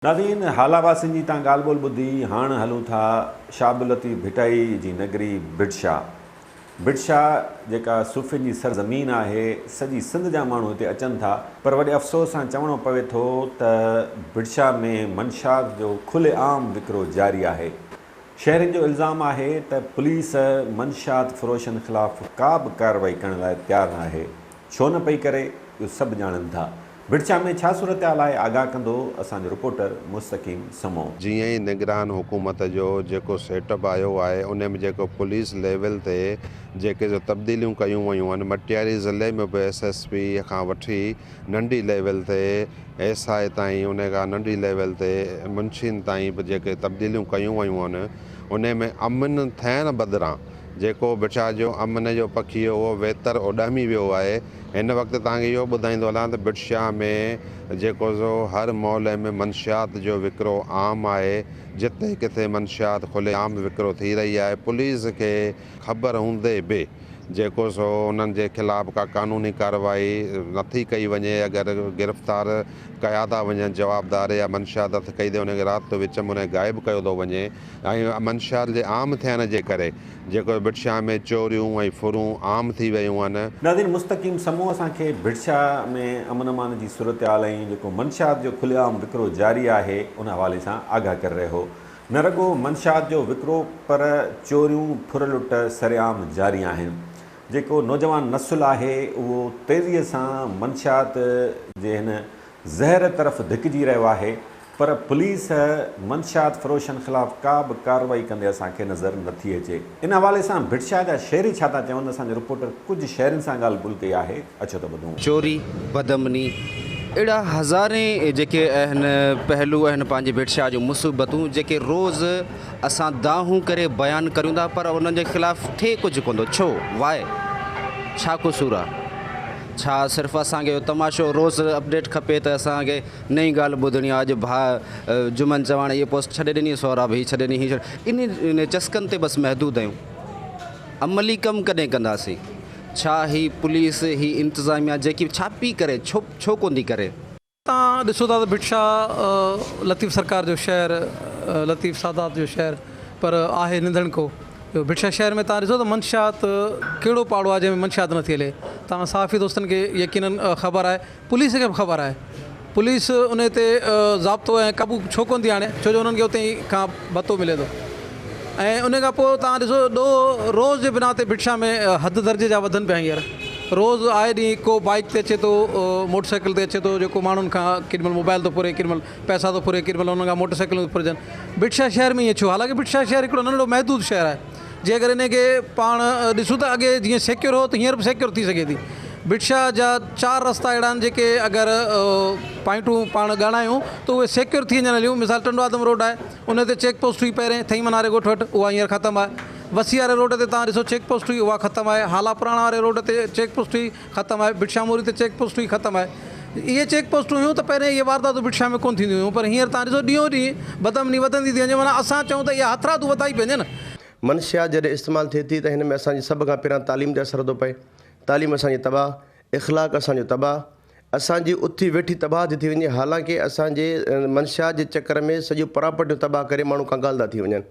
ناظرين هالا واسين جي تان ڳالهه ٻولهه ٻڌي هاڻ هلون ٿا شاهه عبداللطيف ڀٽائي جي نگري ڀٽشا. ڀٽشا جيڪا صوفين جي سر زمين آهي سڄي سنڌ جا ماڻهو هتي اچن ٿا پر وڏي افسوس سان چوڻو پوي ٿو ته ڀٽشا ۾ منشيات جو کلي عام وڪرو جاري آهي شهرين جو الزام آهي ته پوليس منشيات فروشن خلاف ڪا به ڪارروائي ڪرڻ لاء تيار ناهي ڇو نه پئي ڪري، اهو سڀ ڄاڻن ٿا. بڙچا ۾ ڇا صورتحال آهي، آگاهه ڪندو اسان جو رپورٽر مستقيم سمو. جيئن ئي نگران حڪومت جو جيڪو سيٽ اپ آيو آهي ان ۾ جيڪو پوليس ليول تي جيڪي جو تبديليون ڪيون ويون آهن مٽياري ضلعي ۾ به ايس ايس پي کان وٺي ننڍي ليول تي ايس آء تائين ان کان ننڍي ليول تي منشين تائين به جيڪي تبديليون ڪيون ويون آهن ان ۾ امن ٿيڻ بدران جيڪو برشا جو امن جو پکي هو اهو ويتر اڏامي ويو آهي. هن وقت توهان کي اهو ٻڌائيندو هلان ته برشا ۾ جيڪو سو هر مول ۾ منشيات جو وڪرو عام آهي. جتي ڪٿي منشيات کلي عام وڪرو ٿي رهي آهي. پوليس کي خبر هوندي به جيڪو سو انهن جي خلاف ڪا قانوني ڪارروائي نه ٿي ڪئي وڃي اگر گرفتار ڪيا ٿا وڃن جوابدار يا منشيات هٿ ڪئي ٿي وڃي رات جو وچ ۾ انهن کي غائب ڪيو ٿو وڃي. ۽ منشيات جي عام ٿيڻ جي ڪري جيڪو ڀٽشاهه ۾ چوريون ۽ ڦرون عام ٿي ويون آهن. ناظرين مستقيم سمون اسان کي ڀٽشاهه ۾ امن امان جي صورتحال ۽ جيڪو منشيات جو کلي عام وڪرو جاري آهي ان حوالي سان آگاهه ڪري رهيو نه رڳو منشيات جو وڪرو پر چوريون ڦر لٽ سرعام جاري آهن جيڪو نوجوان نسل آهي اهو تيزي سان منشيات جي هن زهر طرف ڌڪجي رهيو آهي. پر پوليس منشيات فروشن خلاف ڪا به ڪارروائي ڪندي اسان کي نظر نه ٿي اچي. ان حوالي سان ڀٽشاهه جا شهري ڇا ٿا چون اسان جي رپورٽر ڪجهه شهرين سان ڳالهه ٻولهه ڪئي آهي اچو ته ٻڌون. چوري، بدامني اهڙا هزارين جيڪي اهن پهلو اهن پنهنجي ڀٽشاهه جون مصيبتون جيڪي روز اسان دانهون ڪري بيان ڪريون ٿا پر انهن جي خلاف ٿئي ڪجهه ڪونه ٿو ڇو؟ Why؟ ڇا قصور آهي؟ ڇا صرف اسان کي اهو تماشو روز اپڊيٽ کپي ته اسان کي نئين ڳالهه ٻڌڻي آ اڄ ڀاء جمن چواڻ هيء پوسٽ ڇڏي ڏني سهراب هي ڇڏي ڏني هي ڇڏي انهن چسڪن تي بس محدود آهيون عملي ڪم ڪڏهن ڪنداسين ڇا هي پوليس هي انتظاميا جيڪي ڇا پي ڪري ڇو ڇو ڪوندي ڪري. تان ڏسو ٿا ته ڀٽ شاهه لطيف سرڪار جو شهر لطيف سادات جو شهر پر آهي ننڌڻ ڪو جو ڀٽ شاهه شهر ۾ تان ڏسو ته منشيات ڪهڙو پاڙو آهي جنهن ۾ منشيات نٿي هلي تان صحافي دوستن کي يقينن خبر آهي پوليس کي به خبر آهي. پوليس انهي تي ضابطو ۽ قابو ڇو ڪونه ٿي آڻي ڇو جو انهن کي اتي ئي کان ڀتو ملي ٿو ۽ انهي کان پوء توهان ڏسو ڏوهه روز جي بنا تي بٺشاهه ۾ حد درجي جا وڌن پيا هينئر روز آء ڏينهن ڪو بائيڪ تي اچي ٿو موٽر سائيڪل تي اچي ٿو جيڪو ماڻهن کان ڪيڏي مهل موبائل ٿو ڦري ڪيڏي مهل پئسا ٿو ڦري ڪيڏي مهل انهن کان موٽر سائيڪلون ٿيون ڦرجن بٺشاهه شهر ۾ ائين ڇو حالانڪه بٺشاهه شهر هڪڙو ننڍڙو محدود شهر آهي جنهن ڪري ان کي پاڻ ڏسون ته اڳي جيئن سيڪيور هو ته هينئر به سيڪيور ٿي سگهي ٿي بٽشاهه جا چار رستا اهڙا آهن جيڪي اگر پوائنٽون پاڻ ڳاڻايون ته اهي سيڪيور ٿي وڃڻ ليون مثال ٽنڊو آدم روڊ آهي ان تي چيڪ پوسٽ هئي پهرين ٿئي مناري ڳوٺ وٽ اها هينئر ختم آهي وسي واري روڊ تي تان ڏسو چيڪ پوسٽ هئي اها ختم آهي هالا پراڻا واري روڊ تي چيڪ پوسٽ هئي ختم آهي بٽشاهه موري تي چيڪ پوسٽون ئي ختم آهي اهي چيڪ پوسٽون هيون ته پهرين اهي وارداتون بٽشاهه ۾ ڪونه ٿينديون هيون پر هينئر توهان ڏسو ڏينهون ڏينهن بدامني وڌندي ٿي وڃي معنيٰ اسان چئون ته اها هٿرادو وڌائي پئي نه. منشيات جڏهن استعمال ٿئي ٿي ته هن ۾ اسان جي سڀ کان پهريان تعليم تي اثر ٿو پئي تعليم اسان جي تباهه اخلاق اسان جو تباهه اسان جي اٿي ويٺي تباهه ٿي ٿي وڃي حالانڪه اسان جي منشيات جي چڪر ۾ سڄيون پراپرٽيون تباهه ڪري ماڻهو ڪنگال ٿا ٿي وڃن.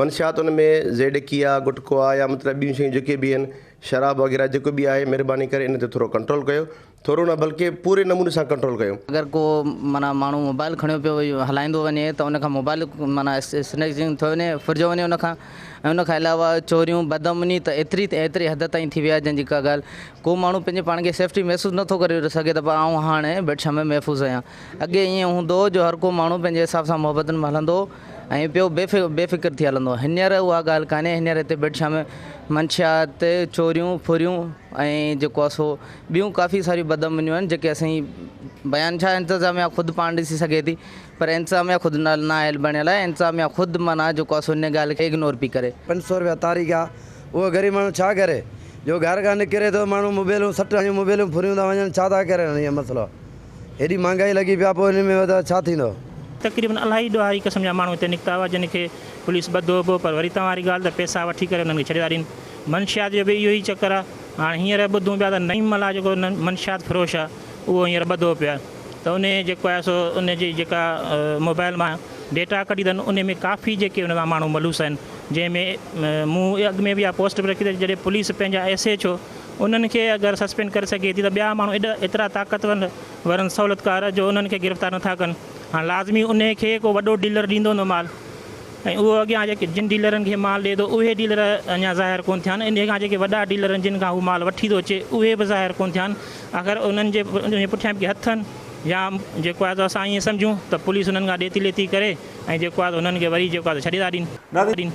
منشيات ان ۾ زيڊڪيا، گٽڪا يا مطلب ٻيون شيون جيڪي به آهن، شراب وغيره جيڪو به آهي مھرباني ڪري ان تي ٿورو ڪنٽرول ڪيو، ٿورو نه بلڪه پوري نموني سان ڪنٽرول ڪيو. اگر ڪو معنيٰ ماڻھو موبائل کڻيو پيو ھلائيندو وڃي ته ان کان موبائل معنيٰ سنئڪجنگ ٿيو وڃي ڦرجيو وڃي ان کان ۽ ان کان علاوه چوريون بدامني ته ايتري ته ايتري حد تائين ٿي وئي آهي جنھن جي ڪا ڳالھه ڪو ماڻھو پنھنجي پاڻ کي سيفٽي محسوس نٿو ڪري سگھي ته آئون ھاڻي بيٽ شاھ ۾ محفوظ آھيان اڳي ائين ھوندو ھو جو ھر ڪو ماڻھو پنھنجي حساب سان محبتن ۾ ھلندو ھو ائين پيو بي فڪر ٿي هلندو. هينئر اها ڳالهه ڪانهي، هينئر هتي بيٽشاهه ۾ منشيات، چوريون، ڦريون ۽ جيڪو آهي سو ٻيون ڪافي ساريون بدامنيون آهن جيڪي اسين بيان ڇا انتظاميا خود پاڻ ڏسي سگهي ٿي پر انتظاميا خود نااهل بڻيل آهي، انتظاميا خود معنيٰ جيڪو آهي سو انهيء ڳالهه کي اگنور پئي ڪري. پنج سؤ رپيا تاريخ آ، اهو غريب ماڻهو ڇا ڪري جو گهر کان نڪري ٿو ماڻهو موبيلون سٽ هڻيون موبيلون ڦريون ٿا وڃن ڇا ٿا ڪرن هيء مسئلو. هيڏي مهانگائي لڳي پيا پوء انهن ۾ وڌاء ڇا ٿيندو؟ تقريبن الاهي ڏوهاري قسم جا ماڻهو هتي نڪتا هئا جن کي پوليس ٻڌو به پر وري توهان واري ڳالهه ته پيسا وٺي ڪري انهن کي ڇڏي ٿا ڏين. منشيات جو به اهو ئي چڪر آ هاڻ هينئر ٻڌون پيا ته نعيم ملاح جيڪو منشيات فروش آ اهو هينئر ٻڌو پيو آ ته انهي جيڪو آهي سو ان جي جيڪا موبائل مان ڊيٽا ڪڍي تن انهي ۾ ڪافي جيڪي ان سان ماڻهو ملوث آهن جنهن ۾ مون اڳ ۾ به اها پوسٽ به رکي ته جڏهن پوليس پنهنجا ايس ايڇ او انهن کي اگر سسپينڊ ڪري سگهي ٿي ته ٻيا ماڻهو ايڏا ايترا طاقتور ورن سهولتڪار جو انهن کي گرفتار نٿا ڪن. هاڻ لازمي انهي کي ڪو وڏو ڊيلر ڏيندو هوندو مال ۽ اهو اڳيان جيڪي جن ڊيلرن کي مال ڏئي ٿو اهي ڊيلر اڃا ظاهر ڪونه ٿيا آهن انهي کان جيڪي وڏا ڊيلر آهن جن کان هو مال وٺي ٿو اچي اهي به ظاهر ڪونه ٿيا آهن اگر انهن جي پٺيان به ڪي هٿ آهن يا جيڪو آهي سو اسان ائين سمجهون ته پوليس انهن کان ڏيتي ليتي ڪري ۽ جيڪو آهي سو انهن کي وري جيڪو آهي سو ڇڏي ٿا ڏين.